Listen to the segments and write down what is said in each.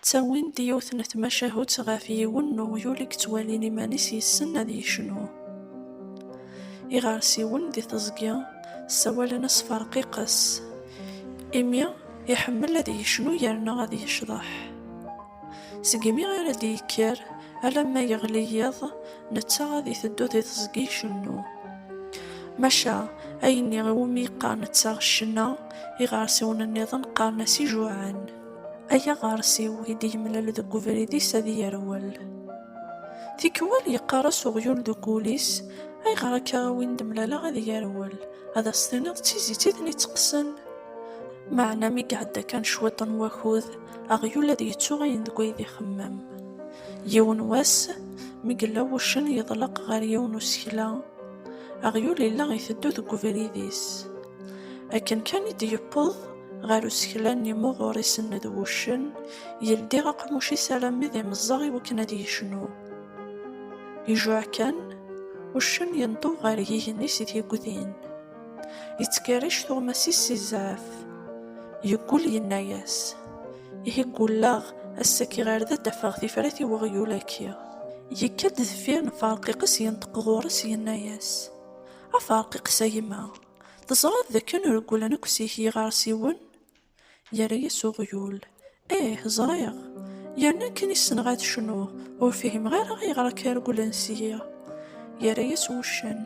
Ttawin-d yiwet n tmacahut ɣef yiwen n uɣyul i yettwalin iman-is yessen ad yecnu. Iɣersiwen di teẓgi ssawalen-as Ferqiqes, imi iḥemmel ad yecnu yerna ad yecḍeḥ. Segmi ara d-yekker alamma yeɣli yiḍ, netta ad iteddu di teẓgi icennu. Maca, ayenni iwumi yeqqar netta ccna, iɣersiwen-nniḍen qqaren-as ijuɛɛen. Ay aɣersiw i d-yemlal deg ubrid-is ad yerwel. Tikwal yeqqar-as uɣyul deg wul-is, Ayɣer akka a win d-mlaleɣ ad yerwel, ad as-tiniḍ d tizit i ten-iteqqsen? Meɛna mi iɛedda kan cwiṭ n wakud, aɣyul ad yettu ayen deg ay d ixemmem. Yiwen wass, mi yella wuccen yeḍleq ɣer yiwen usekla, aɣyul yella iteddu deg ubrid-is. Akken kan i d-yewweḍ ɣer usekla-nni muɣur isenned wuccen, yeldi aqmuc-is alammi d imeẓẓeɣ iwakken ad yecnu. Ijuɛ kan, uccen yenṭub ɣer yigenni s tyegdin. Yettkerric tuɣmas-is si zzɛaf. Yeggul yenna-yas, Ihi ggulleɣ, ass-a kkiɣ ar da ad d-afeɣ tifrat i weɣyul aki. Yekka-d deffir n Ferqiqes yenṭeq ɣur-s yenna-yas, A Ferqiqes a yemma, teẓriḍ d akken regglen akk seg-k yiɣersiwen? Yerra-yas uɣyul, Ih, ẓriɣ. Yerna akken i ssneɣ ad cnuɣ, ur fihimeɣ ara ayɣer akka regglen seg-i. Yerra-yas wuccen,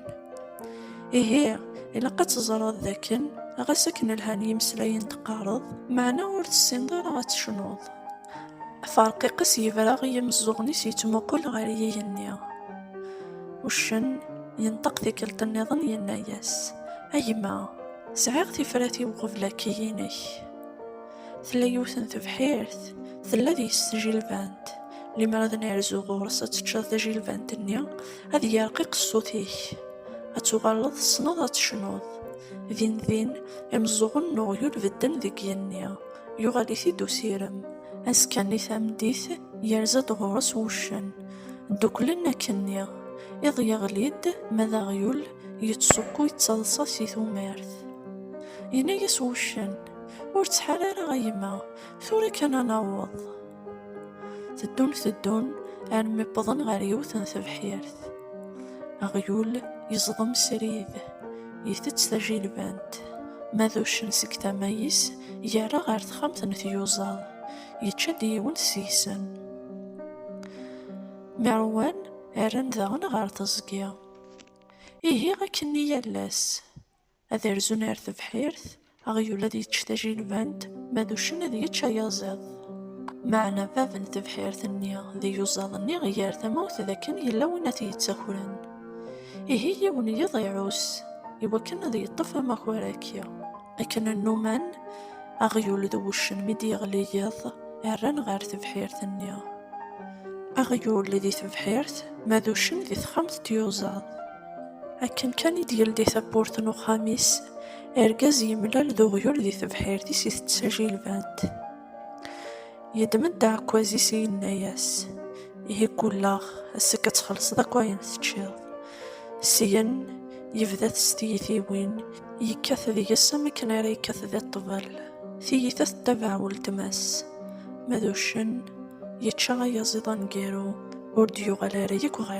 Ihi, ilaq ad teẓreḍ d akken, ɣas akken lhan yimeslayen teqqareḍ, meɛna ur tessineḍ ara ad tecnuḍ. Aferqiq-is yebra i yimeẓẓuɣen-is yettmuqul ɣer yigenni. Uccen yenṭeq tikkelt-nniḍen yenna-yas, A gma! Sɛiɣ tifrat-iw qbel akiyi-inek. Tella yiwet n tebḥirt, tella deg-s tjilbant. Limer ad nerzu ɣur-s ad teččeḍ tajilbant-nni, ad yerqiq ṣṣut-ik. Ad tuɣaleḍ tessneḍ ad tecnuḍ. Din din, imeẓẓuɣen n uɣyul bedden deg yigenni. Yuɣal-it-id usirem. Azekka-nni tameddit, yerza-d ɣur-s wuccen. Dduklen akken-nni. Iḍ yeɣli-d, ma d aɣyul, Yettṣukkuy ttaḍsa si tumert. Yenna-yas wuccen, Ur ttḥar ara a yemma, tura kan a naweḍ. Teddun teddun armi wwḍen ɣer yiwet n tebḥirt. Aɣyul yeẓḍem srid, itett tajilbant, ma d uccen seg tama-is yerra ɣer texxamt n tyuẓa, yečča-d yiwen seg-sen. Merwan rran daɣen ɣer teẓgi. Ihi akkenni yal ass, ad rzun ar tebḥirt, aɣyul ad yečč tajilbant, ma d uccen ad yečč ayaziḍ. Meɛna bab n tebḥirt-nni d iyuzaḍ-nni iger tamawt d akken yella win ad t-yettakren. Ihi yiwen yiḍ iɛus, iwakken ad yeṭṭef amakar-agi. Akken nnuman, aɣyul d wuccen mi d-yeɣli yiḍ, rran ɣer tebḥirt-nni. Aɣyul di tebḥirt, ma d uccen di texxamt d tyuzaḍ. Akken kan i d-yeldi tawwurt n uxxam-is, argaz yemlal d uɣyul di tebḥirt-is itett tajilbant. Yeddem-d aɛekkaz-is yenna-yas, Ihi ggulleɣ ass-agi ad txellṣeḍ akk ayen teččiḍ. Syen, yebda-t s tiyitiwin, yekkat deg-s am akken ara yekkat di ṭṭbel. Tiyita tettabaɛ weltma-s. Ma d uccen, yečča ayaziḍ aneggaru, ur d-yuɣal ara yakk ɣer.